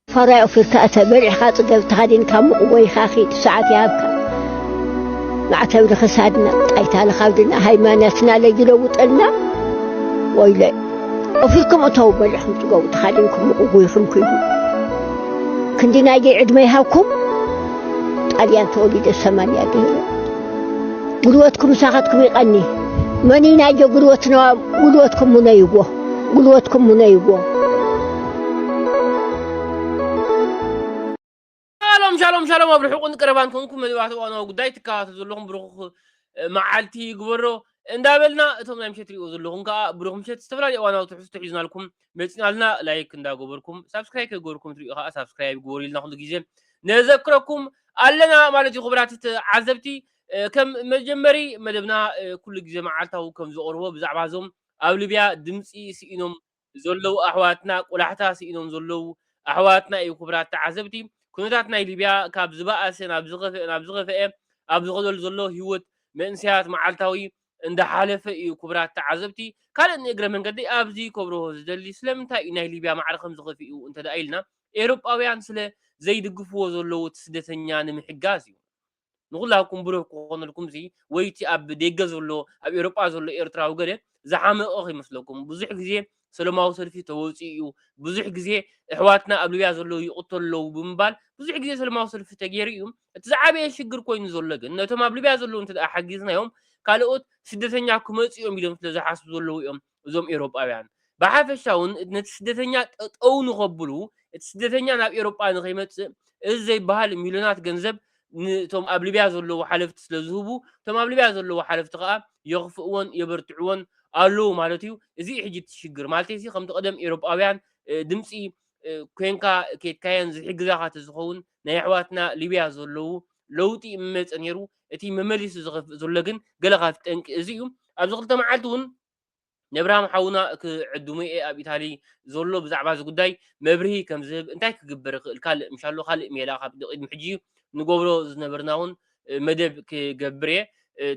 ፈራይ ኦፊርካ እተ በሊዕካ ጽገብ ተኸዲንካ ሙቕ ጎይኻ ኺድ ሰዓት ይሃብካ ማዕተብ ንኽሳድና ጣይታ ንኻብድና ሃይማኖትና ለይለውጠልና ወይለይ ኦፊርኩም እተው በሊዕኩም ጽገቡ ተኸዲንኩም ሙቕ ጎይኹም ኪዱ ክንዲ ናይደይ ዕድመ ይሃብኩም ጣልያን ተወሊደ ሰማንያ ድህረ ጉልበትኩም ምሳኻትኩም ይቐኒ መኒ ናይደ ጉልበትና ጉልበትኩም ሙነይዎ ጉልበትኩም ሙነይዎ ሻሎም ሻሎም ሻሎም ኣብ ርሑቕን ቀረባን ኮንኩም መደባት እዋናዊ ጉዳይ ትከታተሉ ዘለኹም ብሩኽ መዓልቲ ይግበሮ እንዳበልና እቶም ናይ ምሸት ሪኦ ዘለኹም ከዓ ብሩኽ ምሸት ዝተፈላለዩ እዋናዊ ትሕዝቶ ሒዝናልኩም መፂናልና ላይክ እንዳገበርኩም ሳብስክራይብ ከገበርኩም ትሪኡ ከዓ ሳብስክራይብ ግበሩ ኢልና ኩሉ ግዜ ነዘክረኩም ኣለና ማለት እዩ ክቡራት ተዓዘብቲ እ፣ ከም መጀመሪ መደብና እ፣ ኩሉ ግዜ መዓልታዊ ከም ዝቐርቦ ብዛዕባ እዞም ኣብ ሊብያ ድምፂ ስኢኖም ዘለው ኣሕዋትና ቆላሕታ ስኢኖም ዘለው ኣሕዋትና ኢዩ ክቡራት ተዓዘብቲ ኩነታት ናይ ሊብያ ካብ ዝባኣሰ ናብ ዝኸፈኤ ናብ ዝኸፈኤ ኣብ ዝኸደሉ ዘሎ ሂወት መንእሰያት ማዓልታዊ እንዳ ሓለፈ ኢዩ ክቡራት ተዓዘብቲ ካልእ ንእግረ መንገደይ ኣብዚ ከብርሆ ዝደሊ ስለምንታይ ኢዩ ናይ ሊብያ ማዕረ ከም ዝኸፊኡ እንተ ኢልና ኤሮጳውያን ስለ ዘይድግፍዎ ዘለው እቲ ስደተኛ ንምሕጋዝ ኢዩ ንኹላትኩም ብሩህ ክኾነልኩም ሲ ወይ እቲ ኣብ ደገ ዘሎ ኣብ ኤውሮጳ ዘሎ ኤርትራዊ ገለ ዝሓመቐ ከይመስለኩም ብዙሕ ግዜ ሰለማዊ ሰልፊ ተወጺኡ እዩ ብዙሕ ግዜ እሕዋትና ኣብ ሊብያ ዘለዉ ይቕተሉ ኣለዉ ብምባል ብዙሕ ግዜ ሰለማዊ ሰልፊ ተገይሩ እዩ እቲ ዝዓበየ ሽግር ኮይኑ ዘሎ ግን ነቶም ኣብ ሊብያ ዘለዉ እንተ ሓጊዝናዮም ካልኦት ስደተኛ ክመጽ እዮም ኢሎም ስለ ዝሓስቡ ዘለዉ እዮም እዞም ኤውሮጳውያን ብሓፈሻ እውን ነቲ ስደተኛ ጠጠው ንኸብሉ እቲ ስደተኛ ናብ ኤውሮጳ ንኸይመጽእ እዚ ዘይበሃል ሚልዮናት ገንዘብ ንቶም ኣብ ሊብያ ዘለዉ ሓለፍቲ ስለ ዝህቡ እቶም ኣብ ሊብያ ዘለዉ ሓለፍቲ ከዓ የኽፍእዎን የበርትዕዎን ኣለዉ ማለት እዩ እዚ ሕጂ እቲ ሽግር ማለት ሲ ከምቲ ቀደም ኤውሮጳውያን ድምፂ ኮንካ ኬድካየን ዝሕግዛኻ ተዝኸውን ናይ ኣሕዋትና ሊብያ ዘለዉ ለውጢ ምመፀ ነይሩ እቲ መመሊሱ ዝኸፍእ ዘሎ ግን ገለ ካብቲ ጠንቂ እዚ እዩ። ኣብዚ ክልተ መዓልቲ እውን ነብርሃም ሓውና ክዕድሙ'የ ኣብ ኢታሊ ዘሎ ብዛዕባ እዚ ጉዳይ መብርሂ ከም ዝህብ እንታይ ክግበር ይኽእል ካልእ ምሻሎ ካልእ ሜላ ካብ ቅድሚ ሕጂ ንገብሮ ዝነበርና እውን መደብ ክገብር እየ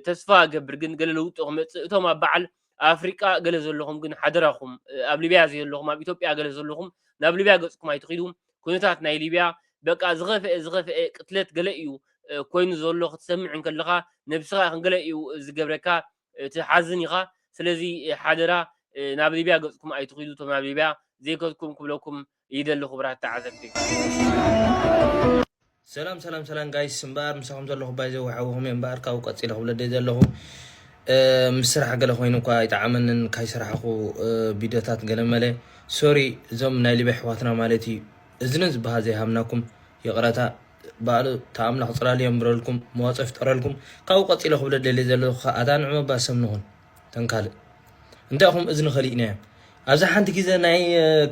ተስፋ እገብር ግን ገለ ለውጢ ክመጽእ እቶም ኣብ በዓል ኣፍሪቃ ገለ ዘለኹም ግን ሓደራኹም ኣብ ሊብያ ዘየለኹም ኣብ ኢትዮጵያ ገለ ዘለኹም ናብ ሊብያ ገጽኩም ኣይትኺዱ ኩነታት ናይ ሊብያ በቃ ዝኸፍአ ዝኸፍአ ቅትለት ገለ እዩ ኮይኑ ዘሎ ክትሰምዕ እንከለኻ ነብስኻ ክንገለ እዩ ዝገብረካ ትሓዝን ኢኻ ስለዚ ሓደራ ናብ ሊብያ ገጽኩም ኣይትኺዱ እቶም ናብ ሊብያ ዘይከድኩም ክብለኩም ይደሊ ክቡራት ተዓዘብቲ። ሰላም ሰላም ሰላም ጋይስ እምበኣር ምሳኹም ዘለኹ ባይዘ ወሓውኹም እየ እምበኣር ካብኡ ቀፂለ ክብለ ደይ ዘለኹ ምስ ስራሕ ገለ ኮይኑ እኳ ኣይጠዓመንን ካይስራሕኹ ቪድዮታት ገለ መለ ሶሪ እዞም ናይ ሊበ ኣሕዋትና ማለት እዩ እዝኒ ዝበሃል ዘይሃብናኩም ይቕረታ ባዕሉ ተኣምላኽ ፅላል እዮም ብረልኩም መዋፅኦ ይፍጠረልኩም ካብኡ ቀፂለ ክብለ ደልየ ዘለኹ ከዓ ኣታ ንዕመባ ሰብ ንኹን እተን ካልእ እንታይ ኹም እዝኒ ከሊእናዮም ኣብዚ ሓንቲ ግዜ ናይ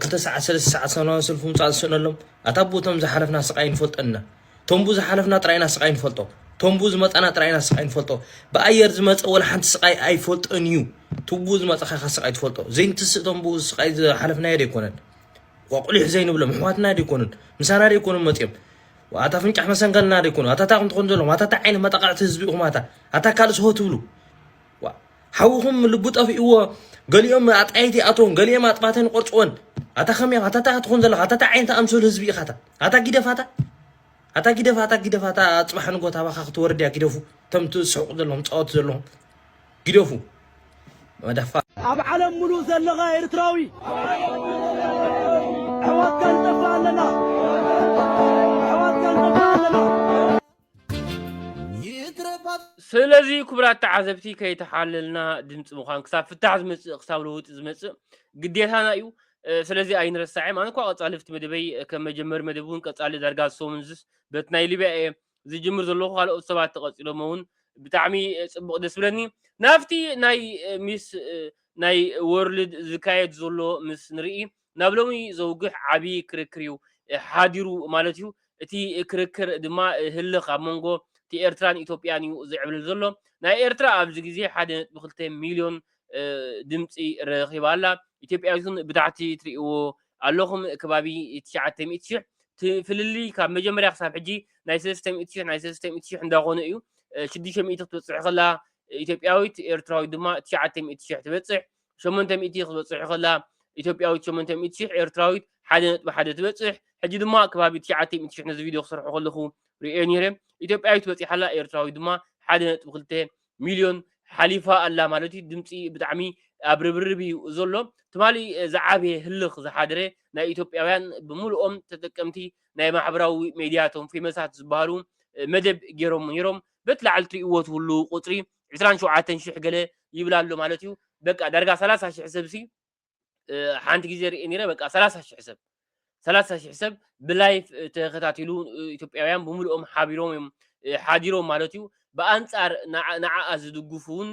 ክልተ ሰዓት ሰለስተ ሰዓት ሰላማዊ ሰልፊ ምውፃእ ዝስእነሎም ኣታ ቦቶም ዝሓለፍና ስቃይ ንፈልጦ እና ቶምቡ ዝሓለፍና ጥራይና ስቃይ ንፈልጦ ቶምቡ ዝመፃና ጥራይና ስቃይ ንፈልጦ ብኣየር ዝመፀ ወላ ሓንቲ ስቃይ ኣይፈልጦን እዩ ትቡ ዝመፀኻ ኢኻ ስቃይ ትፈልጦ ዘይንትስእ ቶምቡ ስቃይ ዝሓለፍናዮ ደይኮነን ቋቁሊሕ ዘይንብሎ ምሕዋትና ደይኮኑን ምሳና ደይኮኑን መፅኦም ኣታ ፍንጫሕ መሰንገልና ደይኮኑ ኣታታ ኹም ትኾኑ ዘለኹም ኣታታ ዓይነ መጣቃዕቲ ህዝቢ ኢኹም ኣታ ኣታ ካልእ ሰሆ ትብሉ ሓውኹም ልቡ ጠፊእዎ ገሊኦም ኣጣይቲ ኣቶም ገሊኦም ኣጥባተን ቆርፅወን ኣታ ከመይ ኣታ ታይ ትኾን ዘለኻ ኣታ ታይ ዓይነት ኣምሰሉ ህዝቢ ኢኻ ኣታ ጊደፋታ ኣታ ጊደፋታ ጊደፋታ ፅባሕ ንጎት ኣባኻ ክትወርድ እያ ጊደፉ እቶም ትስሕቁ ዘለኹም ፃወት ዘለኹም ጊደፉ መዳፋ ኣብ ዓለም ሙሉእ ዘለኻ ኤርትራዊ ኣሕዋትካ ንጠፍእ ኣለና ስለዚ ክቡራት ተዓዘብቲ ከይተሓለልና ድምፂ ምዃን ክሳብ ፍታሕ ዝመፅእ ክሳብ ለውጢ ዝመፅእ ግዴታና እዩ ስለዚ ኣይንረሳዕ ኣነ እኳ ቀፃሊ ፍቲ መደበይ ከም መጀመሪ መደብ እውን ቀፃሊ ዳርጋ ዝሰሙን ዝስ በት ናይ ሊብያ እየ ዝጅምር ዘለኹ ካልኦት ሰባት ተቐፂሎሞ እውን ብጣዕሚ ፅቡቕ ደስ ብለኒ ናብቲ ናይ ሚስ ናይ ወርልድ ዝካየድ ዘሎ ምስ ንርኢ ናብ ሎሚ ዘውግሕ ዓቢ ክርክር እዩ ሓዲሩ ማለት እዩ። እቲ ክርክር ድማ ህልኽ ኣብ መንጎ እቲ ኤርትራን ኢትዮጵያን እዩ ዝዕብልል ዘሎ። ናይ ኤርትራ ኣብዚ ግዜ ሓደ ነጥቢ ክልተ ሚልዮን ድምጺ ረኺባ ኣላ። ኢትዮጵያ ግን ብታሕቲ ትርእይዎ ኣለኹም ከባቢ ትሽዓተ ሚእቲ ሽሕ እቲ ፍልልይ ካብ መጀመርያ ክሳብ ሕጂ ናይ ሰለስተ ሚእቲ ሽሕ ናይ ሰለስተ ሚእቲ ሽሕ እንዳኾነ እዩ። ሽዱሽተ ሚእቲ ክትበጽሕ ከላ ኢትዮጵያዊት ኤርትራዊት ድማ ትሽዓተ ሚእቲ ሽሕ ትበጽሕ። ሸሞንተ ሚእቲ ክትበጽሕ ከላ ኢትዮጵያዊት ሸሞንተ ሚእቲ ሽሕ ኤርትራዊት ሓደ ነጥቢ ሓደ ትበጽሕ ሕጂ ድማ ከባቢ ትሽዓተ ሚእቲ ሽሕ ነዚ ቪድዮ ክሰርሖ ከለኹ ርእየ ነይረ ኢትዮጵያዊት በጺሓ ኣላ ኤርትራዊት ድማ ሓደ ነጥቢ ክልተ ሚልዮን ሓሊፋ ኣላ ማለት እዩ ድምፂ ብጣዕሚ ኣብ ርብርብ እዩ ዘሎ ትማሊ ዝዓበየ ህልኽ ዝሓደረ ናይ ኢትዮጵያውያን ብምልኦም ተጠቀምቲ ናይ ማሕበራዊ ሜድያ እቶም ፌመሳት ዝበሃሉ መደብ ገይሮም ነይሮም በቲ ላዕሊ ትርእይዎ ትህሉ ቁፅሪ ዕስራን ሸውዓተን ሽሕ ገለ ይብላ ኣሎ ማለት እዩ በቃ ዳርጋ ሰላሳ ሽሕ ሰብ ሲ ሓንቲ ግዜ ርእ ነረ በቃ ሰላሳ ሽሕ ሰብ ሰላሳ ሽሕ ሰብ ብላይፍ ተኸታቲሉ ኢትዮጵያውያን ብምልኦም ሓቢሮም እዮም ሓዲሮም ማለት እዩ ብኣንጻር ንዓኣ ዝድግፉ እውን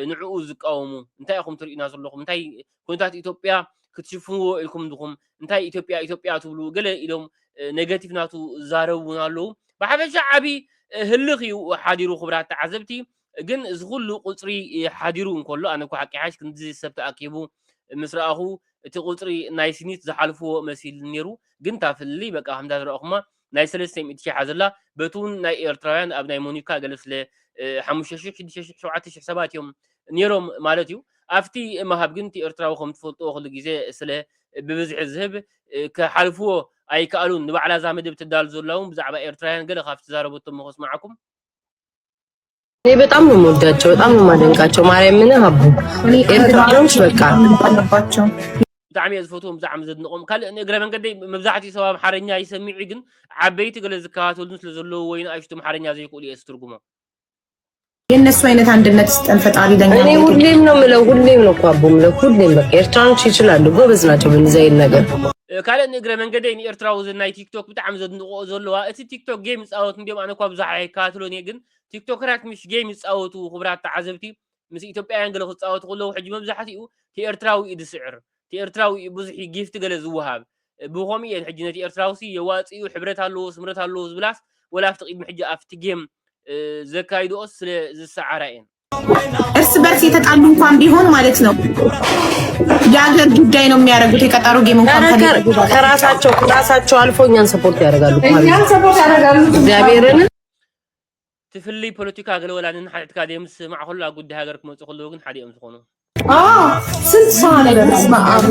ንዕኡ ዝቃወሙ እንታይ ኢኹም ትርእዩና ዘለኹም እንታይ ኩነታት ኢትዮጵያ ክትሽፍንዎ ኢልኩም ድኹም እንታይ ኢትዮጵያ ኢትዮጵያ ትብሉ ገለ ኢሎም ኔጋቲቭ ናቱ ዝዛረቡ እውን ኣለዉ ብሓፈሻ ዓብዪ ህልኽ እዩ ሓዲሩ ክብራት ተዓዘብቲ ግን እዚ ኩሉ ቁፅሪ ሓዲሩ እንከሎ ኣነ እኮ ሓቂ ሓሽ ክንዲ ሰብ ተኣኪቡ ምስ ረኣኹ እቲ ቁፅሪ ናይ ስኒት ዝሓልፍዎ መሲል ነይሩ ግን እታ ፍልልይ በቃ ከምታ ዝረኣኹማ ናይ ሰለስተ ሚእቲ ሽሕ ኣዘላ በቲ ውን ናይ ኤርትራውያን ኣብ ናይ ሞኒካ ገለ ስለ ሓሙሽተ ሽሕ ሽዱሽተ ሽሕ ሸውዓተ ሽሕ ሰባት ኢዮም ኔሮም ማለት ኢዩ ኣብቲ ምሃብ ግን እቲ ኤርትራዊ ከም ትፈልጥዎ ኩሉ ግዜ ስለ ብብዝሒ ዝህብ ክሓልፍዎ ኣይከኣሉን ንባዕላ እዛ መደብ ተዳሉ ዘላ ውን ብዛዕባ ኤርትራውያን ገለ ካብቲ ዛረበቶ እሞ ከስምዓኩም እኔ በጣም ነው የምወዳቸው፣ በጣም ነው የማደንቃቸው። ማርያምን ሀቡ ኤርትራኖች በቃ አለባቸው። ብጣዕሚ እየ ዝፈትዎም ብዛዕሚ ዘድንቆም ካልእ ንእግረ መንገደይ መብዛሕትኡ ሰብ ኣምሓርኛ ይሰሚዑ ግን ዓበይቲ ገለ ዝከታተሉን ስለ ዘለዉ ወይ ንኣሽቱ ኣምሓርኛ ዘይክእሉ እየ ዝትርጉሞ የእነሱ አይነት አንድነት ስጠን ፈጣሪ ለኛ። እኔ ሁሌም ነው ምለው፣ ሁሌም ነው እኮ አቦ ምለው፣ ሁሌም በቃ ኤርትራኖች ይችላሉ፣ ጎበዝ ናቸው በእንደዚህ አይነት ነገር። ካልእ ንእግረ መንገደይ ንኤርትራዊ ናይ ቲክቶክ ብጣዕሚ ዘድንቆ ዘለዋ እቲ ቲክቶክ ጌም ይፃወት እንዲም ኣነ እኳ ብዙሕ ኣይከታተሎን እየ ግን ቲክቶከራት ምስ ጌም ይጻወቱ ክቡራት ተዓዘብቲ ምስ ኢትዮጵያውያን ገለ ክጻወቱ ከለዉ ሕጂ መብዛሕትኡ እቲ ኤርትራዊ እዩ ዝስዕር እቲ ኤርትራዊ እዩ ብዙሕ ጊፍቲ ገለ ዝወሃብ ብኸምኡ እየን ሕጂ ነቲ ኤርትራውሲ የዋጽኡ ሕብረት ኣለዎ ስምረት ኣለዎ ዝብላስ ወላ ኣብቲ ቅድሚ ሕጂ ኣብቲ ጌም ዘካይድኦስ ስለ ዝሰዓራ እየን እርስ በርስ የተጣሉ እንኳን ቢሆን ማለት ነው የሀገር ጉዳይ ነው የሚያደርጉት። የቀጠሮ ጌም እንኳን ከራሳቸው ከራሳቸው አልፎ እኛን ሰፖርት ያደርጋሉ። እግዚአብሔርን እቲ ፍልይ ፖለቲካ ገለ ወላ ንንሓድሕድካ ዘይምስምማዕ ከሎ ኣብ ጉዳይ ሃገር ክመፁ ከለዉ ግን ሓደ እዮም ዝኾኑ። ስንት ሰው አለ በስመ አብ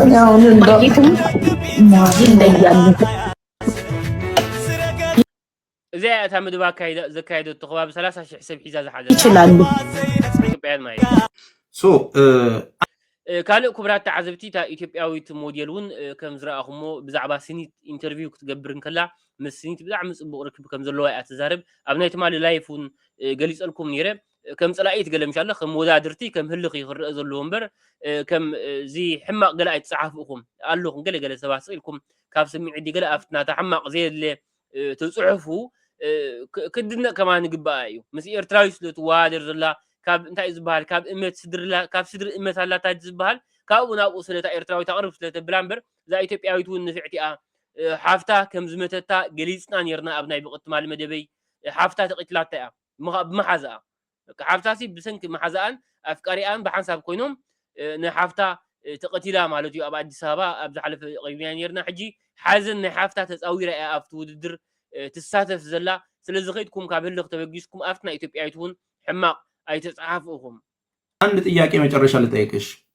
እዚኣ እያ እታ ምድባ ዘካየደቶ ከባቢ 30 ሽሕ ሰብ ሒዛ ዝሓዘ ይችላሉ ኢትዮጵያውያን ማለት ካልእ ኩቡራት ተዓዘብቲ እታ ኢትዮጵያዊት ሞዴል እውን ከም ዝረኣኹሞ ብዛዕባ ስኒት ኢንተርቪው ክትገብር እንከላ ምስ ስኒት ብጣዕሚ ጽቡቕ ርክብ ከም ዘለዋ እያ ትዛረብ ኣብ ናይ ትማሊ ላይፍ እውን ገሊጸልኩም ነይረ ከም ጸላኢት ገለ ምሻ ኣሎ ከም ወዳድርቲ ከም ህልኽ እዩ ክረአ ዘለዎ እምበር ከም እዚ ሕማቕ ገለ ኣይትጸሓፉ ኢኹም ኣለኹም ገለ ገለ ሰባት ስቕ ኢልኩም ካብ ስምዒት ገለ ኣብቲ ናታ ሕማቕ ዘየድለ እቲ ጽሑፉ ክድነቅ ከማ ንግባኣ እዩ ምስ ኤርትራዊ ስለ ትወሃደር ዘላ ካብ እንታይ እዩ ዝበሃል ካብ እመት ስድርላ ካብ ስድሪ እመት ኣላታ ዝበሃል ካብኡ ናብኡ ስለታ ኤርትራዊ ተቕርብ ስለ ተብላ እምበር እዛ ኢትዮጵያዊት እውን ንፍዕቲ እያ ሓፍታ ከም ዝመተታ ገሊጽና ነርና ኣብ ናይ ብቕትማል መደበይ ሓፍታ ተቒትላታ እያ ብምሓዛኣ በቃ ሓፍታሲ ብሰንኪ መሓዛኣን ኣፍቃሪኣን ብሓንሳብ ኮይኖም ንሓፍታ ተቀቲላ ማለት እዩ ኣብ ኣዲስ ኣበባ ኣብ ዝሓለፈ ቀሪብናዮ ኔርና ሕጂ ሓዘን ናይ ሓፍታ ተጻዊራ እያ ኣብቲ ውድድር ትሳተፍ ዘላ ስለዚ ከይድኩም ካብ ህልኽ ተበጊስኩም ኣብቲ ናይ ኢትዮጵያዊት እውን ሕማቅ ኣይተጻሓፉ ኢኹም። ኣንድ ጥያቄ መጨረሻ ልጠይቅሽ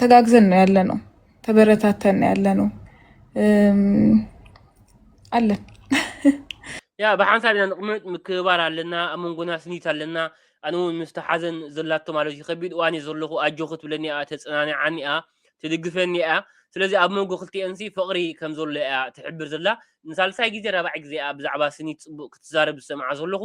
ተጋግዘን ነው ያለ ነው። ተበረታተን ነው ያለ ነው አለን ያ ብሓንሳብ ኢና ንቕመጥ ምክብባር ኣለና ኣብ መንጎና ስኒት ኣለና ኣነ እውን ምስቲ ሓዘን ዘላቶ ማለት እዩ ከቢድ እዋን እዩ ዘለኹ ኣጆ ክትብለኒ እያ ተፅናንዓኒ እያ ትድግፈኒ እያ ስለዚ ኣብ መንጎ ክልቲኤን ሲ ፍቕሪ ከም ዘሎ እያ ትሕብር ዘላ ንሳልሳይ ግዜ ራባዕ ግዜ እያ ብዛዕባ ስኒት ፅቡቕ ክትዛረብ ዝሰምዓ ዘለኹ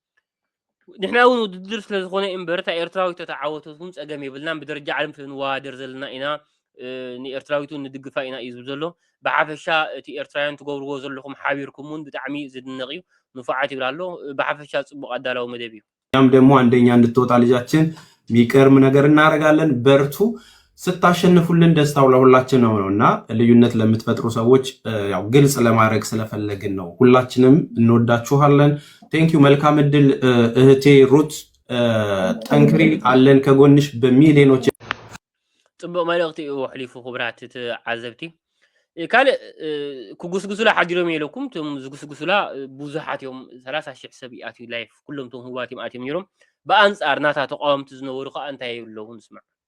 ንሕና እውን ውድድር ስለ ዝኾነ እምበር እታ ኤርትራዊት ተተዓወተትኩም ጸገም የብልናን ብደረጃ ዓለም ስለ ንወዳደር ዘለና ኢና ንኤርትራዊት እውን ንድግፋ ኢና እዩ ዝብል ዘሎ ብሓፈሻ እቲ ኤርትራውያን ትገብርዎ ዘለኹም ሓቢርኩም እውን ብጣዕሚ ዝድነቕ እዩ ንፉዓት ይብል ኣሎ ብሓፈሻ ጽቡቕ ኣዳላዊ መደብ እዩ እኛም ደግሞ አንደኛ እንድትወጣ ልጃችን የሚቀርም ነገር እናደረጋለን በርቱ ስታሸንፉልን ደስታው ለሁላችን ነው ነው እና ልዩነት ለምትፈጥሩ ሰዎች ያው ግልጽ ለማድረግ ስለፈለግን ነው። ሁላችንም እንወዳችኋለን። ቴንኪዩ። መልካም እድል እህቴ ሩት፣ ጠንክሪ፣ አለን ከጎንሽ በሚሊዮኖች። ጽቡቅ መልእክቲ እዩ ኣሕሊፉ ክብራት ተዓዘብቲ ካልእ ክጉስጉሱላ ሓዲሮም የለኩም እቶም ዝጉስጉሱላ ብዙሓት እዮም ሰላሳ ሽሕ ሰብ ይኣትዩ ላይፍ ኩሎም ቶም ህዋት እዮም ኣትዮም ነይሮም ብኣንፃር ናታ ተቃወምቲ ዝነበሩ ከዓ እንታይ የብለውን ስማዕ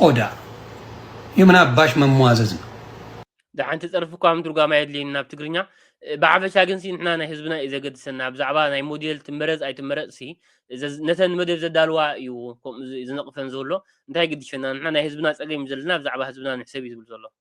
ቆዳ እዩ ምን አባሽ መሟዘዝ ነው። ደሓንቲ ፀርፊ እኳ ምትርጓም ኣየድልየኒ ናብ ትግርኛ ብሓፈሻ ግን ሲ ንሕና ናይ ህዝብና እዩ ዘገድሰና ብዛዕባ ናይ ሞዴል ትመረፅ ኣይትመረፅ ሲ ዘዝ- ነተን መደብ ዘዳልዋ እዩ ከምኡ ዝ- ዝነቕፈን ዘሎ እንታይ ግድሸና ንሕና ናይ ህዝብና ፀገም እዩ ዘለና ብዛዕባ ህዝብና ንሕሰብ እዩ ዝብል ዘሎ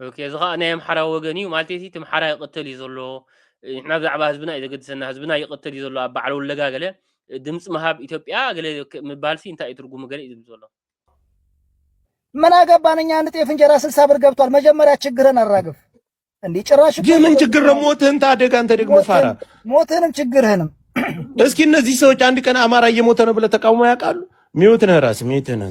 ኦኬ እዚ ከዓ ናይ ኣምሓራ ወገን እዩ ማለት እቲ ኣምሓራ ይቅተል እዩ ዘሎ ንሕና ብዛዕባ ህዝብና እዩ ዘገድሰና ህዝብና ይቅተል እዩ ዘሎ ኣብ በዓል ወለጋ ገለ ድምፂ ምሃብ ኢትዮጵያ ገለ ምባል ሲ እንታይ እዩ ትርጉሙ ገለ እዩ ዝብል ዘሎ ምን አገባን እኛ አንድ ጤፍ እንጀራ ስልሳ ብር ገብቷል። መጀመሪያ ችግርን አራግፍ። እንዲህ ጭራሽ የምን ችግር ነው? ሞትህን ታደግ አንተ ደግሞ ፋራ፣ ሞትህንም ችግርህንም። እስኪ እነዚህ ሰዎች አንድ ቀን አማራ እየሞተ ነው ብለህ ተቃውሞ ያውቃሉ? ሚውት ነህ ራስህ ሚውት ነህ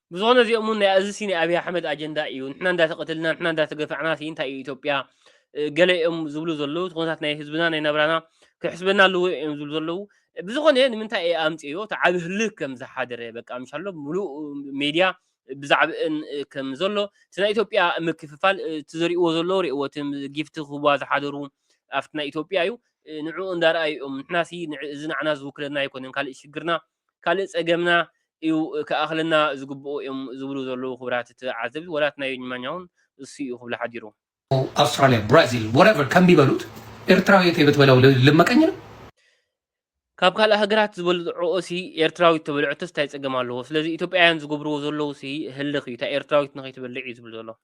ብዝኮነ እዚኦም ውን ናይ ኣዚ ሲ ናይ ኣብይ ኣሕመድ ኣጀንዳ ኢዩ ንሕና እንዳተቀተልና ንሕና እንዳተገፋዕና ሲ እንታይ ኢዩ ኢትዮጵያ ገለ ኢዮም ዝብሉ ዘለዉ እቲ ኩነታት ናይ ህዝብና ናይ ናብራና ክሕስበና ኣለዎ ኢዮም ዝብሉ ዘለዉ ብዝኮነ ንምንታይ ኢየ ኣምጺኦ እቲ ዓቢ ህልክ ከም ዝሓደረ በቃ ምሻሎ ሙሉእ ሜድያ ብዛዕብእን ከም ዘሎ እቲ ናይ ኢትዮጵያ ምክፍፋል እቲ ዘርእዎ ዘለዉ ርእዎ እቲ ጊፍቲ ክህቡዋ ዝሓደሩ ኣብቲ ናይ ኢትዮጵያ ኢዩ ንዕኡ እንዳርኣዩ ኢዮም ንሕና ሲ እዚ ንዓና ዝውክለና ኣይኮነን ካልእ ሽግርና ካልእ ጸገምና እዩ ክኣኽለና ዝግብኦ እዮም ዝብሉ ዘለዉ ክቡራት ተዓዘብቲ ወላ እቲ ናይ ዮኝማኛውን እሱ እዩ ክብሎ ሓዲሩ። ኣውስትራልያ ብራዚል ወረቨር ከምቢ በሉት ኤርትራዊ ተይበትበለው ልመቀኝ ነው። ካብ ካልእ ሃገራት ዝበልዕኦ ሲ ኤርትራዊት ተበልዐቶስ ታይ ጸገም ኣለዎ ስለዚ ኢትዮጵያውያን ዝገብርዎ ዘለዉ ሲ ህልኽ እዩ ታይ ኤርትራዊት ንኸይትበልዕ እዩ ዝብል ዘሎ።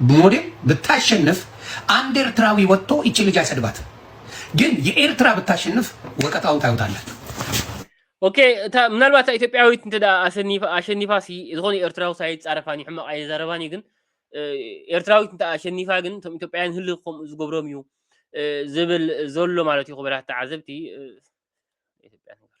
ብሞዴል ብታሸንፍ ኣንድ ኤርትራዊ ወቶ ይቺ ልጅ ኣይሰድባትም ግን የኤርትራ ብታሸንፍ ወቀጣውን ታዩታላችሁ። ኦኬ እታ ምናልባት እታ ኢትዮጵያዊት እንተ ኣሸኒፋ ኣሸኒፋ ሲ ዝኾነ ኤርትራዊ ኣይጻረፋን እዩ ሕማቕ ኣይዛረባን እዩ ግን እ፣ ኤርትራዊት እንተ ኣሸኒፋ ግን እቶም ኢትዮጵያውያን ህሊ ከምኡ ዝገብሮም እዩ እ፣ ዝብል ዘሎ ማለት እዩ ክቡራት ተዓዘብቲ እ፣ ኢትዮጵያ ነገር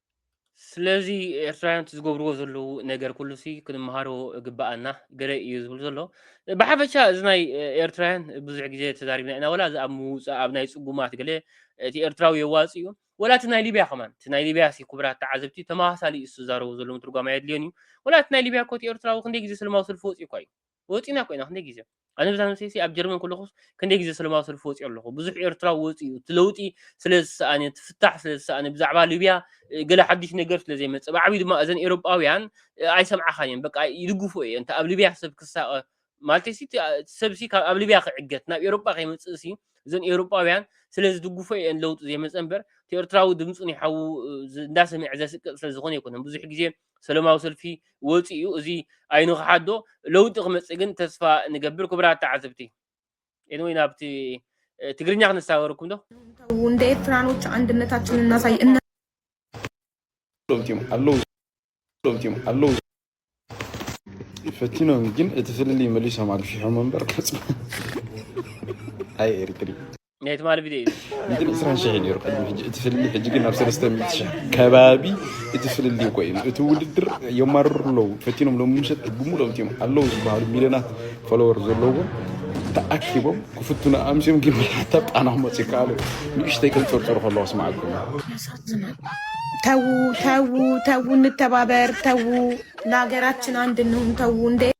ስለዚ ኤርትራውያን እቲ ዝገብርዎ ዘለዉ ነገር ኩሉሲ ክንመሃሮ ግብኣና ገለ እዩ ዝብል ዘሎ ብሓፈሻ እዚ ናይ ኤርትራውያን ብዙሕ ግዜ ተዛሪብና ኢና ወላ እዚ ኣብ ምውፃእ ኣብ ናይ ፅጉማት ገለ እቲ ኤርትራዊ የዋፅ እዩ ወላ እቲ ናይ ሊብያ ከማን እቲ ናይ ሊብያ ሲ ክቡራት ተዓዘብቲ ተመሳሳሊ እዩ ዝዛረቡ ዘሎ ምትርጓም ኣየድልዮን እዩ ወላ እቲ ናይ ሊብያ እኮ እቲ ኤርትራዊ ክንደይ ግዜ ሰለማዊ ሰልፊ ወፂኡ እኳ እዩ ወጺእና እኮ ኢና ክንደይ ግዜ ኣነ ብዛን ምሰይሲ ኣብ ጀርመን ከለኹስ ክንደይ ግዜ ሰለማዊ ሰልፊ ወጺኦ ኣለኹ ብዙሕ ኤርትራዊ ወጺኡ እቲ ለውጢ ስለ ዝሰኣነ እቲ ፍታሕ ስለ ዝሰኣነ ብዛዕባ ሊብያ ገለ ሓድሽ ነገር ስለ ዘይመጸ ብዓብዩ ድማ እዘን ኤሮጳውያን ኣይሰምዓኻን እየን በቃ ይድግፎ እየ እንተ ኣብ ሊብያ ሰብ ክሳቐ ማለት ሲ ሰብ ሲ ካብ ኣብ ሊብያ ክዕገት ናብ ኤሮጳ ከይመጽእ ሲ እዘን ኤሮጳውያን ስለ ዝድግፎ እየን ለውጢ ዘይመጸ እምበር እቲ ኤርትራዊ ድምጹ ንሓዉ እንዳሰምዐ ዘስቅጥ ስለ ዝኾነ ኣይኮነን ብዙሕ ግዜ ሰለማዊ ሰልፊ ወፂኡ እዩ እዚ ኣይንክሓዶ ለውጢ ክመፅእ ግን ተስፋ ንገብር ክቡራት ተዓዘብቲ ወይ ናብቲ ትግርኛ ክነሳገርኩም ዶ እንደ ኤርትራኖች አንድነታችን እናሳይ እና ኣለዉ ፈቲኖም ግን እቲ ፍልልይ መሊሶም ኣግፊሖም እምበር ኣይ ኤርትሪ ናይ ትማሊ ቪድዮ እዩ ግን ዕስራን ሽሕ ነይሩ ቅድሚ ሕጂ እቲ ፍልልይ ሕጂ ግን ናብ ሰለስተ ሚእቲ ሽሕ ከባቢ እቲ ፍልልይ እኮ እዩ እቲ ውድድር የማርሩ ኣለዉ ፈቲኖም ሎሚ ምሸት ብሙሉኦም እትዮም ኣለዉ ዝበሃሉ ሚልዮናት ፎሎወር ዘለዎም ተኣኪቦም ክፍትኑ ኣምስዮም ግን መርሓታ ጣና ክመፁ ይከኣሉ ንእሽተይ ከንፀርፀሩ ከለዎ ስማዓኩም ተዉ ተዉ ተዉ እንተባበር ተዉ ለሀገራችን አንድ እንሁን ተዉ እንደ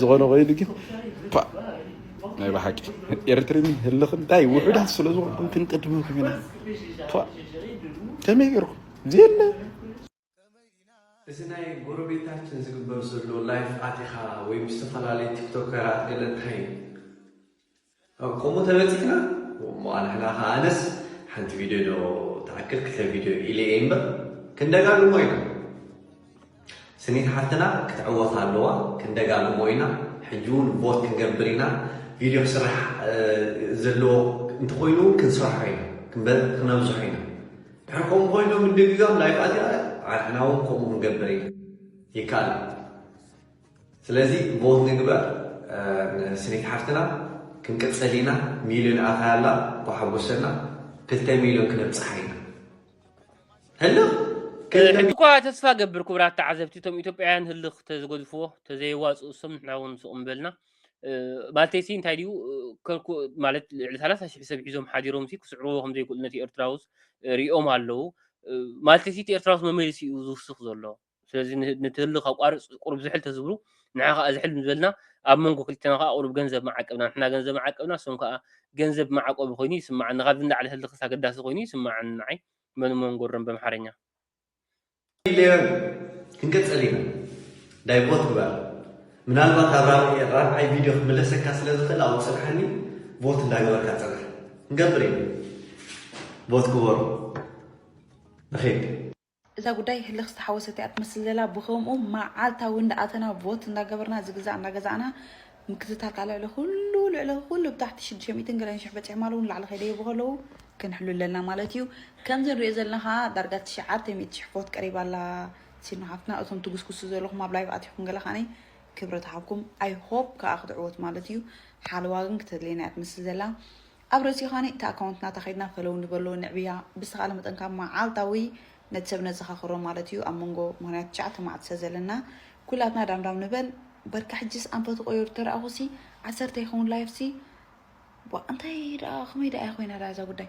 ዝኾነ ኮይኑ ግን ናይ ብሓቂ ኤርትርን ህልኽን እንታይ ውሑዳት ስለ ዝኾንኩም ክንቅድመኩም ኢና ከመይ ገይርኩም ዘየለ እዚ ናይ ጎረቤታችን ዝግበር ዘሎ ላይፍ ኣቲኻ ወይ ምስ ዝተፈላለዩ ቲክቶከራት ገለ እንታይ እዩ ኣብ ከምኡ ተበጺሕና እሞ ኣንሕና ከኣ ኣነስ ሓንቲ ቪድዮ ዶ ትኣክል ክልተ ቪድዮ ኢለ እየ እምበር ክንደጋግሞ ኢና ስኒት ሓፍትና ክትዕወት ኣለዋ ክንደጋግሞ ኢና ሕጂ እውን ቦት ክንገብር ኢና ቪድዮ ክስራሕ ዘለዎ እንተኮይኑ እውን ክንሰርሖ ኢና ክነብዝሖ ኢና ድሕር ከምኡ ኮይኑ ምድግጋም ላይፍ ኣቲኣ ዓርሕና እውን ከምኡ ክንገብር ኢና ይከኣል ስለዚ ቮት ንግበር ንስኒት ሓፍትና ክንቅጽል ኢና ሚልዮን ኣታይ ኣላ እኳ ሓጎሰና ክልተ ሚልዮን ክነብጽሓ ኢና ህልኽ ሕጂ እኳ ተስፋ ገብር ክቡራት ተዓዘብቲ እቶም ኢትዮጵያውያን ህልኽ ተዝገድፍዎ ተዘየዋፅኡ እሶም ንሕና እውን ስቕ ምበልና ማለተይሲ እንታይ ድዩ ከልኩ ማለት ልዕሊ ሰላሳ ሽሕ ሰብ ሒዞም ሓዲሮም ሲ ክስዕርዎ ከም ዘይክእሉ ነቲ ኤርትራውስ ሪኦም ኣለዉ ማለተይሲ እቲ ኤርትራውስ መመሊሱ እዩ ዝውስኽ ዘሎ ስለዚ ነቲ ህልኽ ኣቋርጽ ቁሩብ ዝሕል ተዝብሉ ንሕና ከኣ ዝሕል ምዝበልና ኣብ መንጎ ክልቴና ከኣ ቁሩብ ገንዘብ ምዓቀብና ንሕና ገንዘብ ምዓቀብና ንሶም ከኣ ገንዘብ መዓቆቢ ኮይኑ ይስመዓኒ ካብዚ ንላዕሊ ህልኽስ ኣገዳሲ ኮይኑ ይስመዓኒ ንዓይ መን እሞ ንጎሮም በምሓረኛ። ሌረን ክንቅጽል ኢና ዳይ ቦት ግበር ምናልባት ኣብ ራብዒ ራብዓይ ቪድዮ ክምለሰካ ስለ ዝኽእል ኣብኡ ጽንሓኒ ቦት እንዳ ገበርካ ጽናሕ ክንገብር ኢና ቦት ግበሩ ንኺድ እዛ ጉዳይ ህልኽ ዝተሓወሰት እያ ትመስል ዘላ ብኸምኡ መዓልታዊ እንዳኣተና ቮት እንዳገበርና ዝግዛእ እንዳገዛእና ምክትታል ካኣ ልዕሊ ኩሉ ልዕሊ ኩሉ ብታሕቲ ሽዱሽተ ሚእትን ገለን ሽሕ በፂሖም ኣለዉ ንላዕሊ ከይደየቡ ከለዉ ክንሕሉ ኣለና ማለት እዩ ከምዚ ንሪኦ ዘለና ካኣ ዳርጋ ትሽዓተ ሚእቲ ሽሕ ቮት ቀሪባ ኣላ ሲኖ ሓፍትና እቶም ትጉስጉሱ ዘለኹም ኣብ ላይቭ ኣቲኹም ገለ ካዓኒ ክብረት ሃብኩም ኣይ ሆፕ ካኣ ክትዕወት ማለት እዩ ሓለዋ ግን ክተድልየና እያ ትመስል ዘላ ኣብ ርእሲ ኻኒ እቲ ኣካውንት ናታ ከድና ፈለው ንበሎ ንዕብያ ብዝተኻለ መጠን ካብ ማዓልታዊ ነቲ ሰብ ነዘኻኽሮ ማለት እዩ ኣብ መንጎ ምኽንያቱ ትሽዓተ ማዓልቲ ስለ ዘለና ኩላትና ዳም ዳም ንበል በርካ ሕጂስ ኣንፈቱ ቆየሩ ተራኣኹሲ ዓሰርተ ይኸውን ላይፍሲ ዋእ እንታይ ዳኣ ከመይ ዳኣ እያ ኮይና ዳኣ እዛ ጉዳይ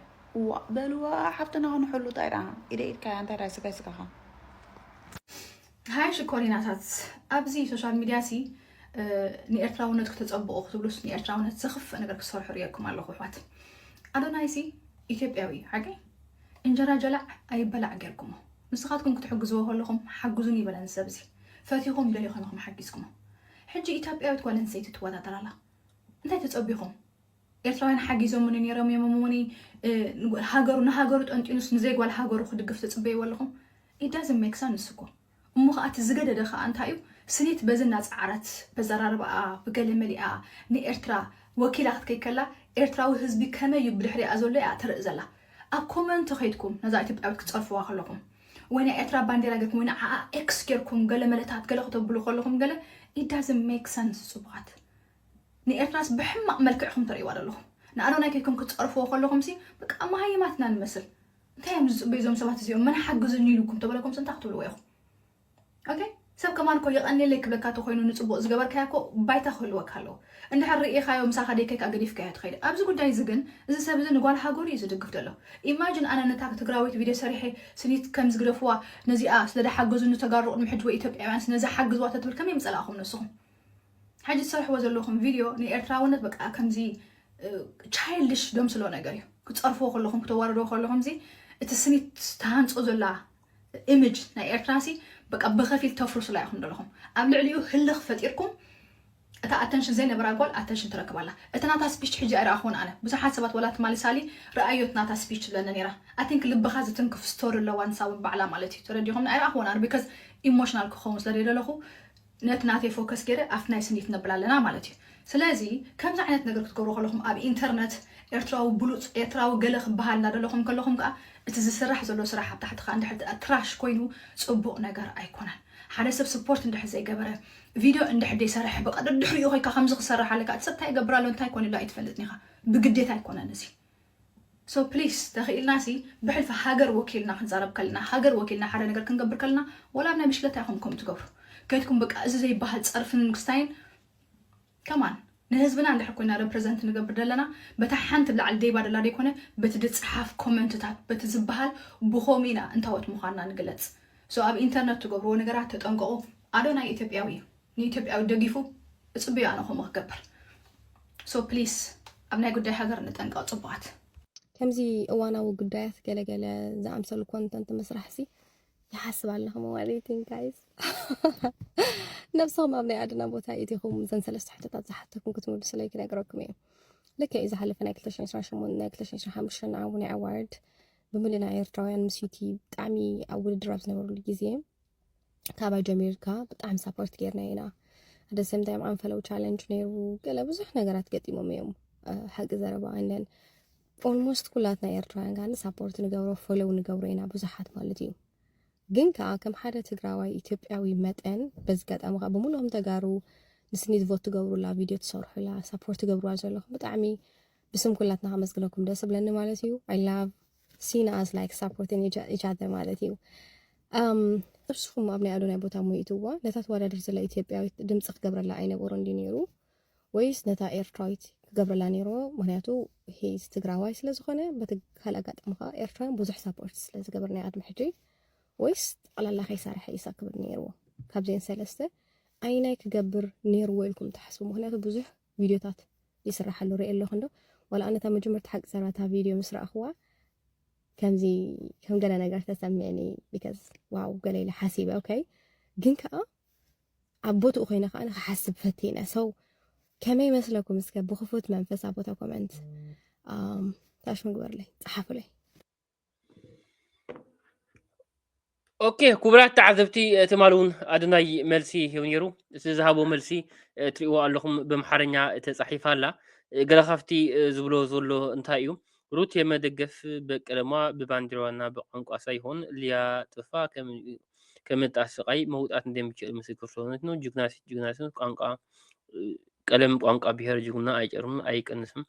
ዋእ በልዋ ሓፍትና ክንሕሉ ታይ ዳኣ ኢደ ኢድካ እያ እንታይ ዳኣ ስጋይ ስጋኻ። ሃይ ሽኮሪናታት ኣብዚ ሶሻል ሚድያ ሲ ንኤርትራውነት ክተፀብቑ ክትብሉስ ንኤርትራውነት ዘኽፍእ ነገር ክሰርሑ ርየኩም ኣለኹ ኣሕዋት ኣዶናይ ሲ ኢትዮጵያዊ እዩ ሓቂ እንጀራ ጀላዕ ኣይበላዕ ጌርኩሞ ንስኻትኩም ክትሕግዝዎ ከለኹም ሓግዙን ይበለን ሰብ እዚ ፈቲኹም ደሊኹም ኢኹም ሓጊዝኩሞ ሕጂ ኢትዮጵያዊት ጓል ኣንስተይቲ ትወዳደር ኣላ እንታይ ተፀቢኹም ኤርትራውያን ሓጊዞሙኒ ኔሮም እዮም እሞ ን ሃገሩ ንሃገሩ ጠንጢኑስ ንዘይ ጓል ሃገሩ ክድግፍ ትጽበይዎ ኣለኹም it doesn't make sense እኮ እሞ ከኣ እቲ ዝገደደ ከኣ እንታይ እዩ ስኒት በዚ እናጸዓረት በዘራርባኣ ብገለ መሊኣ ንኤርትራ ወኪላ ክትከይድ ከላ ኤርትራዊ ህዝቢ ከመይ እዩ ብድሕሪኣ ዘሎ እያ ተርኢ ዘላ ኣብ ኮመንት ከይድኩም ነዛ ኢትዮጵያዊት ክትጸርፍዋ ከለኹም ወይ ናይ ኤርትራ ባንዴራ ጌርኩም ወይ ንዓኣ ኤክስ ጌርኩም ገለ መለታት ገለ ከተብሉ ከለኹም ገለ it doesn't make sense ጽቡቓት ንኤርትራስ ብሕማቅ መልክዕ ኢኩም ተርእይዋ ዘለኩም ንኣዶናይ ከይድኩም ክትጸርፍዎ ከለኩምሲ በቃ መሃይማት ኢና ንመስል እንታይ እዮም ዝጽበዩ እዞም ሰባት እዚኦም መን ሓግዙኒ ኢሉኩም ተበለኩምሲ እንታይ ክትብልዎ ኢኩም ኦኬ ሰብ ከማን እኮ የቀንየለይ ክብለካ ተኮይኑ ንጽቡቅ ዝገበርካዮ እኮ ባይታ ክህልወካ ኣለዎ እንድሕር ርኢካዮ ምሳካ ደይከ ከኣ ገዲፍካዮ ትከይድ ኣብዚ ጉዳይ እዚ ግን እዚ ሰብ እዚ ንጓል ሃገሩ እዩ ዝድግፍ ዘሎ ኢማጅን ኣነ ነታ ትግራወይቲ ቪድዮ ሰሪሐ ስኒት ከምዚ ግደፍዋ ነዚኣ ስለደሓገዙኒ ተጋሩ ቅድሚ ሕጂ ወይ ኢትዮጵያውያን ስነዘሓግዝዋ ተትብል ከመይ ምጸላእኩም ንስኩም ሕጂ ትሰርሕዎ ዘለኹም ቪድዮ ንኤርትራውነት በቃ ከምዚ ቻይልድሽ ደምስሎ ነገር እዩ ክጸርፍዎ ከለኹም ክተዋርድዎ ከለኹም እዚ እቲ ስኒት ተሃንጾ ዘላ ኢሜጅ ናይ ኤርትራሲ በቃ ብኸፊል ተፍርሱላ ኢኹም ዘለኹም ኣብ ልዕሊኡ ህልኽ ፈጢርኩም እታ ኣተንሽን ዘይነበራ ጓል ኣተንሽን ትረክብ ኣላ እቲ ናታ ስፒች ሕጂ ኣይረኣኹን ኣነ ብዙሓት ሰባት ወላ ትማሊ ሳሊ ረኣዮት ናታ ስፒች ትብለኒ ነይራ ኣቲንክ ልብኻ ዝትንክፍ ስቶሪ ኣለዋ ንሳ እውን ባዕላ ማለት እዩ ተረዲኹም ኣይረኣኹዎን ኣነ ቢካዝ ኢሞሽናል ክኸውን ስለ ደለኹ ነቲ ናተይ ፎከስ ጌረ ኣብቲ ናይ ስኒት ነብል ኣለና ማለት እዩ ስለዚ ከምዚ ዓይነት ነገር ክትገብሩ ከለኹም ኣብ ኢንተርነት ኤርትራዊ ብሉጽ ኤርትራዊ ገለ ክበሃል እናደለኹም ከለኹም ከኣ እቲ ዝስራሕ ዘሎ ስራሕ ኣብ ታሕቲ ከኣ እንድሕር ትራሽ ኮይኑ ጽቡቕ ነገር ኣይኮነን ሓደ ሰብ ስፖርት እንድሕር ዘይገበረ ቪድዮ እንድሕር ዘይሰርሐ በቃ ደድሕሪኡ ኮይካ ከምዚ ክሰርሕ ኣለካ እቲ ሰብ እንታይ ይገብር ኣሎ እንታይ ኮይኑ ኣሎ ኣይትፈልጥን ኢኻ ብግዴታ ኣይኮነን እዚ So please ተኺኢልና ሲ ብሕልፊ ሃገር ወኪልና ክንዛረብ ከለና ሃገር ወኪልና ሓደ ነገር ክንገብር ከለና ወላ ኣብ ናይ ብሽክለታ ኢኹም ከምኡ ትገብሩ ከይድኩም በቃ እዚ ዘይበሃል ጸርፍን ምክስታይን Come on ንህዝብና እንድሕር ኮይና Represent ንገብር ደለና በታ ሓንቲ ላዕሊ ደይባ ደላ ደይኮነ በቲ ድጽሓፍ ኮመንትታት በቲ ዝበሃል ብኸምኡ ኢና እንታዎት ምዃንና ንግለጽ So ኣብ ኢንተርነት ትገብርዎ ነገራት ተጠንቀቑ ኣዶናይ ኢትዮጵያዊ እዩ። ንኢትዮጵያዊ ደጊፉ እፅብዮ ኣነ ከምኡ ክገብር so please ኣብ ናይ ጉዳይ ሃገር ንጠንቀቅ ፅቡቃት። ከምዚ እዋናዊ ጉዳያት ገለገለ ዝኣምሰሉ ኮንተንት ምስራሕሲ ይሓስብ ኣለኹ መዋሪቲን ጋይስ ነብስኹም ኣብ ናይ ኣድና ቦታ ኢትኹም ዘን ሰለስተ ሕቶታት ዝሓተኩም ክትምልሱለይ ክነግረኩም እዩ ልክ እዩ ዝሓለፈ ናይ 228 ናይ 225 ንዓው ናይ ኣዋርድ ብምልና ኤርትራውያን ምስ ዩቲ ብጣዕሚ ኣብ ውድድር ኣብ ዝነበሩሉ ግዜ ካባይ ጀሚርካ ብጣዕሚ ሳፖርት ጌርና ኢና ኣደ ሰም ታይም ኣንፈለው ቻለንጅ ነይሩ ገለ ብዙሕ ነገራት ገጢሞም እዮም ሓቂ ዘረባ እንደን ኦልሞስት ኩላትና ኤርትራውያን ጋር ሳፖርት ንገብሮ ፎሎው ንገብሮ ኢና ብዙሓት ማለት እዩ ግን ከዓ ከም ሓደ ትግራዋይ ኢትዮጵያዊ መጠን በዚ ጋጣሚ ከዓ ብምሉኦም ተጋሩ ንስኒ ዝቮት ትገብሩላ ቪድዮ ትሰርሑላ ሳፖርት ትገብርዋ ዘለኹም ብጣዕሚ ብስም ኩላትና ከመስግነኩም ደስ ብለኒ ማለት እዩ ኣይ ላቭ ሲን ኣዝ ላይክ ሳፖርትን ኢች ኣዘር ማለት እዩ እርስኹም ኣብ ናይ ኣዶናይ ቦታ ሙይትዋ ነታ ተወዳድር ዘላ ኢትዮጵያዊት ድምፂ ክገብረላ ኣይነበሮ እንዲ ነይሩ ወይስ ነታ ኤርትራዊት ክገብረላ ነይሮ ምክንያቱ ሂዝ ትግራዋይ ስለዝኾነ በቲ ካል ኣጋጣሚ ከዓ ኤርትራን ብዙሕ ሳፖርት ስለዝገብር ናይ ኣድሚ ሕጂ ወይስ ጠቕላላ ከይሰርሐ ኢሳ ክብል ነይርዎ ካብዚን ሰለስተ ኣይናይ ክገብር ነይርዎ ኢልኩም ትሓስቡ ምክንያቱ ብዙሕ ቪድዮታት ይስራሕ ኣሎ ሪኤ ኣለኹ እንዶ ዋላ ኣነ እታ መጀመርታ ሓቂ ዘረባ እታ ቪድዮ ምስ ረኣኽዋ ከምዚ ከም ገለ ነገር ተሰሚዕኒ ቢካዝ ዋው ገለ ኢለ ሓሲበ ኦኬ ግን ከዓ ኣብ ቦትኡ ኮይነ ከዓ ንክሓስብ ፈቲነ ሰው ከመይ መስለኩም እስከ ብክፉት መንፈስ ኣብ ቦታ ኮመንት ታሽሙ ግበርለይ ፀሓፉለይ ኦኬ ክቡራት ተዓዘብቲ ትማሊ እውን ኣዶናይ መልሲ ሂቡ ነይሩ እቲ ዝሃቦ መልሲ እትሪእዎ ኣለኹም ብምሓርኛ ተፃሒፋ ኣላ ገለ ካብቲ ዝብሎ ዘሎ እንታይ እዩ ሩት የመደገፍ በቀለማ ብባንዲራዋና ብቋንቋ ሳይሆን ሊያ ጥፋ ከም ከመጣ ስቃይ መውጣት እንደሚችል ምስክር ስለሆነች ነው። ጅግና ሴት ጅግና ሴት ቋንቋ ቀለም ቋንቋ ብሔር ጅግና ኣይጨርም ኣይቀንስም።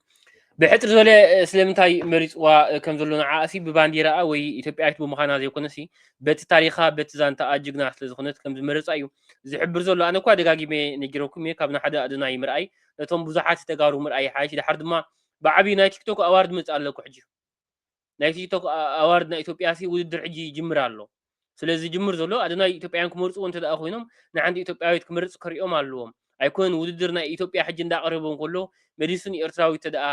ብሕፅር ዝበለ ስለምንታይ መሪፅዋ ከም ዘሎ ንዓ እሲ ብባንዲራኣ ወይ ኢትዮጵያዊት ብምዃና ዘይኮነ ሲ በቲ ታሪኻ በቲ ዛንታኣ ጅግና ስለ ዝኾነት ከም ዝመረፃ እዩ ዝሕብር ዘሎ ኣነ እኳ ደጋጊመ ነጊረኩም እየ ካብ ንሓደ ኣደናይ ምርኣይ ነቶም ብዙሓት ተጋሩ ምርኣይ ይሓይሽ ድሓር ድማ ብዓብዪ ናይ ቲክቶክ ኣዋርድ መፅእ ኣለኩ ሕጂ ናይ ቲክቶክ ኣዋርድ ናይ ኢትዮጵያሲ ውድድር ሕጂ ይጅምር ኣሎ ስለ ዝጅምር ዘሎ ኣዶናይ ኢትዮጵያውያን ክመርጽዎ እንተ ኮይኖም ንሓንቲ ኢትዮጵያዊት ክመርጽ ከሪኦም ኣለዎም ኣይኮነን ውድድር ናይ ኢትዮጵያ ሕጂ እንዳ ቀረበ እንከሎ መሊሱ ንኤርትራዊት ተደኣ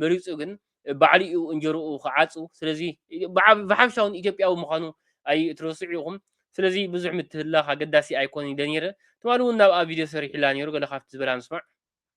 መሪጹ ግን ባዕሉ እዩ እንጀርኡ ክዓጹ ስለዚ ብሓፈሻ ውን ኢትዮጵያዊ ምዃኑ ኣይትረስዑ ኢኹም ስለዚ ብዙሕ ምትህልላኽ ኣገዳሲ ኣይኮነን ኢለ ነይረ ትማሊ ውን ናብኣ ቪድዮ ሰሪሒላ ነይሩ ገለ ካብቲ ዝበላ ንስማዕ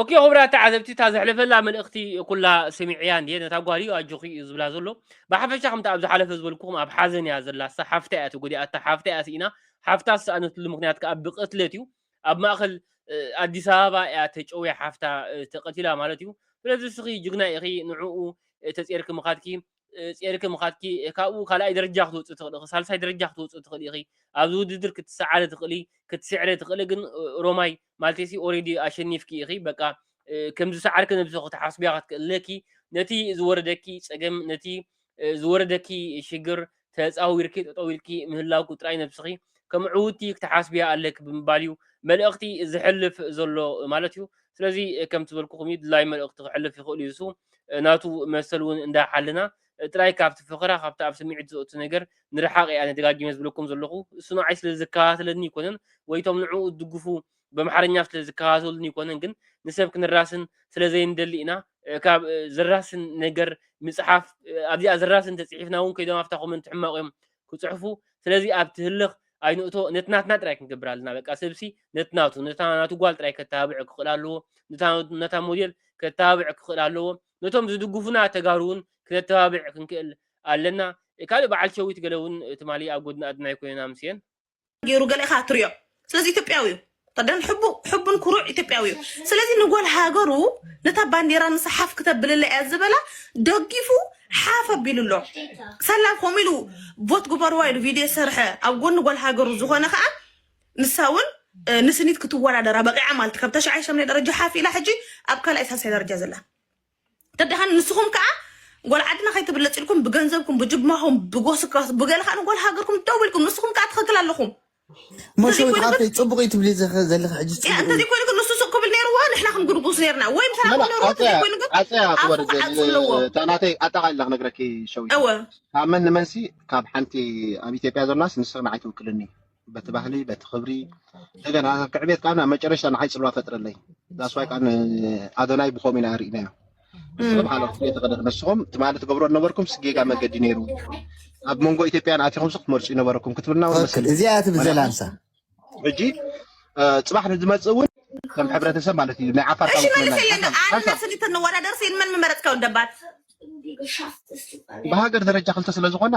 ኦኬ ክቡራት ተዓዘብቲ እታ ዘሕለፈላ መልእኽቲ ኩላ ሰሚዐያ እንድየ ነታ ጓል እዩ ኣጆኺ እዩ ዝብላ ዘሎ ብሓፈሻ ከምቲ ኣብ ዝሓለፈ ዝበልኩኹም ኣብ ሓዘን እያ ዘላሳ ሓፍታ እያ ተጎዲኣታ ሓፍታ እያ ስኢና ሓፍታ ዝሰኣነትሉ ምክንያት ከዓ ብቅትለት እዩ ኣብ ማእኸል ኣዲስ ኣበባ እያ ተጨውያ ሓፍታ ተቀቲላ ማለት እዩ ስለዚ እስኺ ጅግና ኢኺ ንዕኡ ተፀርኪ ምኻድኪ ጼርኪ ምኻትኪ ካብኡ ካልኣይ ደረጃ ክትወፅ ትኽእል ኢኺ ሳልሳይ ደረጃ ክትወፅ ትኽእል ኢኺ ኣብዚ ውድድር ክትሰዓሪ ትኽእሊ ክትስዕረ ትኽእሊ ግን ሮማይ ማለተይሲ ኦሬዲ ኣሸኒፍኪ ኢኺ በቃ ከም ዝሰዓርኪ ነብሱ ክትሓስብያ ክትክእለኪ ነቲ ዝወረደኪ ጸገም ነቲ ዝወረደኪ ሽግር ተጻዊርኪ ጠጠው ኢልኪ ምህላውኩ ጥራይ ነብስኺ ከም ዕውቲ ክትሓስብያ ኣለኪ ብምባል እዩ መልእኽቲ ዝሕልፍ ዘሎ ማለት እዩ ስለዚ ከም ትበልኩኹም እዩ ድላይ መልእኽቲ ክሕልፍ ይኽእል እዩ እሱ ናቱ መሰል እውን እንዳሓልና ጥራይ ካብቲ ፈኸራ ካብቲ ኣብ ስምዒት ዘእቱ ነገር ንርሓቕ እየ ኣነ ደጋጊመ ዝብለኩም ዘለኹ እሱ ንዓይ ስለ ዝከታተለኒ ኣይኮነን ወይ እቶም ንዕኡ ዝድግፉ በምሓርኛ ስለ ዝከታተሉኒ ኣይኮነን ግን ንሰብ ክንራስን ስለ ዘይንደሊ ኢና ካብ ዘራስን ነገር ምጽሓፍ ኣብዚኣ ዘራስን ተጽሒፍና እውን ከይዶም ኣብታ ኮመንት ሕማቕ እዮም ክጽሕፉ ስለዚ ኣብቲ ህልኽ ኣይንእቶ ነቲ ናትና ጥራይ ክንገብር ኣለና በቃ ሰብሲ ነቲ ናቱ ነታ ናቱ ጓል ጥራይ ከተባብዕ ክኽእል ኣለዎ ነታ ሞዴል ከተባብዕ ክኽእል ኣለዎ ነቶም ዝድጉፉና ተጋሩ ውን ክነተባብዕ ክንክእል ኣለና ካልእ በዓል ሸዊት ገለ ውን ትማሊ ኣብ ጎድኒ ኣድናይ ኮይነን ኣምስየን። ጌሩ ገለ ኢካ ትሪኦ ስለዚ ኢትዮጵያዊ እዩ ከዳን ሕቡ ሕቡን ኩሩዕ ኢትዮጵያዊ እዩ ስለዚ ንጎል ሃገሩ ነታ ባንዴራ ንሳ ሓፍ ክተብልለ እያ ዝበላ ደጊፉ ሓፍ ኣቢሉ ኣሎ ሰላ ከምኡ ኢሉ ቮት ግበርዋ ኢሉ ቪድዮ ሰርሐ ኣብ ጎኒ ጎል ሃገሩ ዝኾነ ከዓ ንሳ እውን ንስኒት ክትወዳደራ በቂዓ ማለት ካብ ተሽዓይ ሸምናይ ደረጃ ሓፍ ኢላ ሕጂ ኣብ ካልኣይ ሳልሳይ ደረጃ ዘላ ተዳሓን ንስኹም ከዓ ጓል ዓድና ከይትብለፅ ኢልኩም ብገንዘብኩም ብጅማኹም ብጎስካስ ብገለ ከዓ ንጓል ሃገርኩም ደው ኢልኩም ንስኹም ከዓ ትኽክል ኣለኹም መሸዊት ሓፍተይ ፅቡቅ እዩ ትብሊ ዘለኺ ሕጂ ፅቡቅ እዩ እንተዘይ ኮይኑ ግን ንሱ ሱቅ ክብል ነይርዎ ንሕና ክንጉድጉስ ነርና ወይም ሰላም መላ ነይርዎ እንተዘይ ዓፀያ ኮይኑ ግን ዓፀያ ኣፉ ክወርድ ክዓፁ ዘል ኣለዎ እታ ናተይ ኣጠቃሊላ ክነግረኪ ሸዊት እወ ካብ መን ንመንሲ ካብ ሓንቲ ኣብ ኢትዮጵያ ዘላስ ንስኺ ንዓይ ትውክልኒ በቲ ባህሊ በቲ ክብሪ እንደገና ክዕቤት ከዓ ናብ መጨረሻ ንዓይ ፅልዋ ፈጥረለይ ዳስዋይ ከዓ ኣዶናይ ብከምኡ ኢና ርኢናዮ ንስኹም ሓለኹ ፍለ ተቀደድ ንስኹም ትማሊ ትገብሮ ነበርኩም ስጌጋ መገዲ ነይሩ ኣብ መንጎ ኢትዮጵያን ኣትኹም ስ ክትመርፁ ይነበረኩም ክትብልና እውን መሰል እዚኣ ትብል ዘላ ንሳ ሕጂ ፅባሕ ንዝመፅእ እውን ከም ሕብረተሰብ ማለት እዩ ናይ ዓፋር ክልተ ንወዳደር ሲን መን ምመረፅካ ወደባት ብሃገር ደረጃ ክልተ ስለዝኾና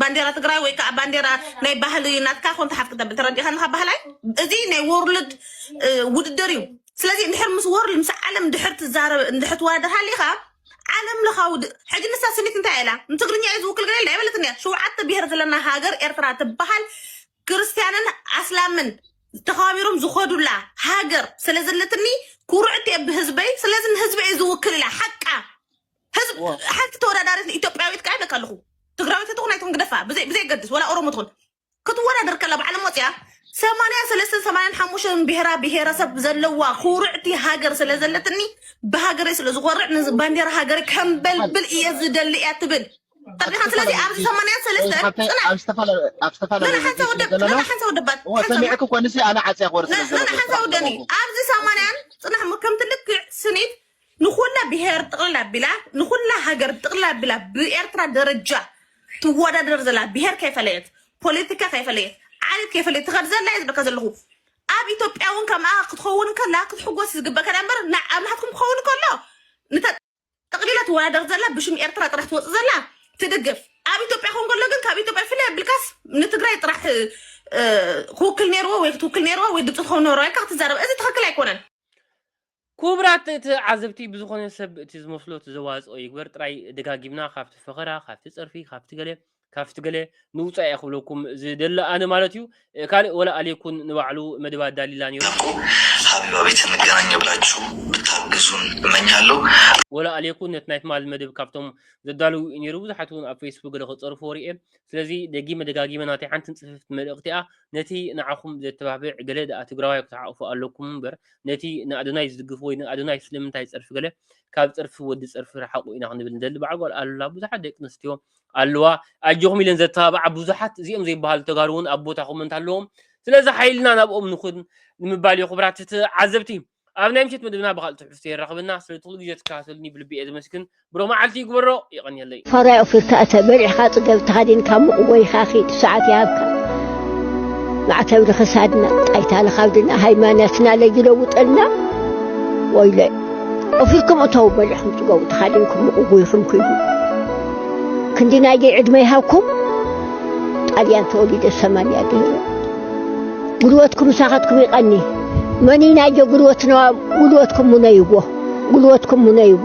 ባንዴራ ትግራይ ወይ ከዓ ባንዴራ ናይ ባህሊ ናትካ ኮንታ ሓፍ ክተብል ተረዲኻ ንካ ባህላይ እዚ ናይ ወርልድ ውድድር እዩ ስለዚ ንድሕር ምስ ወርልድ ምስ ዓለም ድሕር ትዛረብ እንድሕር ትዋደር ሃሊኻ ዓለም ለኻዊ ሕጂ ንሳ ስኒት እንታይ ኢላ ንትግርኛ እዩ ዝውክል ገለ ኣይበለትን እያ ሸውዓተ ብሄር ዘለና ሃገር ኤርትራ ትበሃል ክርስትያንን ኣስላምን ተኸባቢሮም ዝኸዱላ ሃገር ስለዘለትኒ ኩርዕት እየ ብህዝበይ ስለዚ ንህዝበይ ዝውክል ኢላ ሓቃ ህዝብ ዋ ሓንቲ ተወዳዳሪት ኢትዮጵያዊት ከዓ ይብለካ ኣለኹ ትግራዊት ትኹን ኣይትኹን ግደፋ ብዘይ- ብዘይገድስ ወላ ኦሮሞ ትኹን ክትወዳደር ከላ ባዕሎም ወፅያ ሰማንያ ሰለስተን ሰማንያን ሓሙሽተን ብሄራ ብሄረሰብ ዘለዋ ኩርዕቲ ሃገር ስለ ዘለትኒ ብሃገረይ ስለ ዝኾርዕ ንዚ ባንዴራ ሃገረይ ከምበልብል እየ ዝደሊ እያ ትብል ኣብ ጠርኒኻ ስለዚ ዝተፈላለዩ ኣብዚ ሰማንያ ወይ ሰለስተን ሓብተይ ፅናዕ ኣብ ዝተፈላለዩ ኣብ ዝተፈላለዩ ነና ሓንሳ ረድዮ ስለ ወደብ ነና ዘለና ሓንሳ ወደባት እዎ ሓንሳ ሰሚዕክ እኮ ንስ ኣነ ዓፅያ ክወር ስለ ነና ዘለኹ ሓንሳ ጥራሕ ወደኒ ዝገበርኩ ኣብዚ ሰማንያን ፅናሕ ሞ ከምቲ ልክዕ ስኒት ንኹላ ብሄር ጥቕልል ኣቢላ ንኹላ ሃገር ጥቕልል ኣቢላ ብኤርትራ ደረጃ ትወዳደር ዘላ ብሄር ከይፈለየት ፖለቲካ ከይፈለየት ዓሌት ከይፈለየት ትኸድ ዘላ እየ ዝብለካ ዘለኹ ኣብ ኢትዮጵያ እውን ከምኣ ክትኸውን ከላ ክትሕጎስ ዝግበእ ከዳ እምበር ና- ኣብ ናትኩም ክኸውን ከሎ ንተ ጠቕሊላ ትወዳደር ዘላ ብሽም ኤርትራ ጥራሕ ትወፅእ ዘላ ትድግፍ ኣብ ኢትዮጵያ ክኸውን ከሎ ግን ካብ ኢትዮጵያ ፍለ ብልካስ ንትግራይ ጥራሕ እ፣ ክውክል ነይርዎ ወይ ክትውክል ነይርዎ ወይ ድምፂ ትኸውን ነይርዋ ኢልካ ክትዛረብ እዚ ትኽክል ኣይኮነን ኩቡራት ተዓዘብቲ ብዝኾነ ሰብ እቲ ዝመስሎ እቲ ዘዋጽኦ ይግበር ጥራይ ደጋጊምና ካብቲ ፈኸራ ካብቲ ጸርፊ ካብቲ ገለ ካብቲ ገለ ንውጻእ እየ ክብለኩም ዝደሊ ኣነ ማለት እዩ ካልእ ወላ ኣልየኩን ንባዕሉ መደብ ኣዳሊላ ኔሩ እኮ ኣብ ኣቤተ መገናኛ ብላችሁ ብታግዙን እመኛለሁ። ወላ ኣልየኩን ነቲ ናይ ትማሊ መደብ ካብቶም ዘዳልዉ እዩ ኔሩ ብዙሓት እውን ኣብ ፈይስቡክ ገለ ክጸርፍዎ ርኤ ስለዚ ደጊመ ደጋጊመ ናተይ ሓንትን ጽፍፍቲ መልእኽቲ እያ ነቲ ንዓኹም ዘተባብዕ ገለ ደኣ ትግራዋይ ክትሓቑፉ ኣለኩም እምበር ነቲ ንኣዶናይ ዝድግፍ ወይ ንኣዶናይ ስለምንታይ ጸርፊ ገለ ካብ ጸርፊ ወዲ ጸርፊ ርሓቁ ኢና ክንብል ንደሊ በዓል ጓል ኣሉላ ብዙሓት ደቂ ኣንስትዮ ኣለዋ ኣጆኹም ኢለን ዘተባብዓ ብዙሓት እዚኦም ዘይበሃሉ ተጋሩ እውን ኣብ ቦታኹም እንተለዎም ስለዚ ሓይልና ናብኦም ንኹን ንምባል እዩ ክቡራት ተዓዘብቲ ኣብ ናይ ምሸት መደብና ብካልእ ትሕዝቶ የራኽበና ስለ ትኽሉ ግዜ ትከታተሉኒ ብልቢ እየ ዘመስግን ብሩኽ መዓልቲ ይግበሮ የቐንየለይ። ፋራይ ኦፊርካ እተ በሪሕካ ጽገብ ተኸዲንካ ሙቕ ጎይኻ ኺድ ሰዓት ይሃብካ ማዕተብ ንኽሳድና ጣይታ ንኻብድና ሃይማኖትና ለይለውጠልና ወይለ ኦፊርኩም እተው በሪሕኩም ጽገቡ ተኻዲንኩም ሙቕ ጎይኹም ኪዱ ክንዲ ናይደይ ዕድመ ይሃብኩም ጣልያን ተወሊደ ሰማንያ ድህረ ጉልበትኩም ምሳኻትኩም ይቐኒ መኒ ናይደ ጉልበትና ጉልበትኩም ሙነይዎ ጉልበትኩም ሙነይዎ።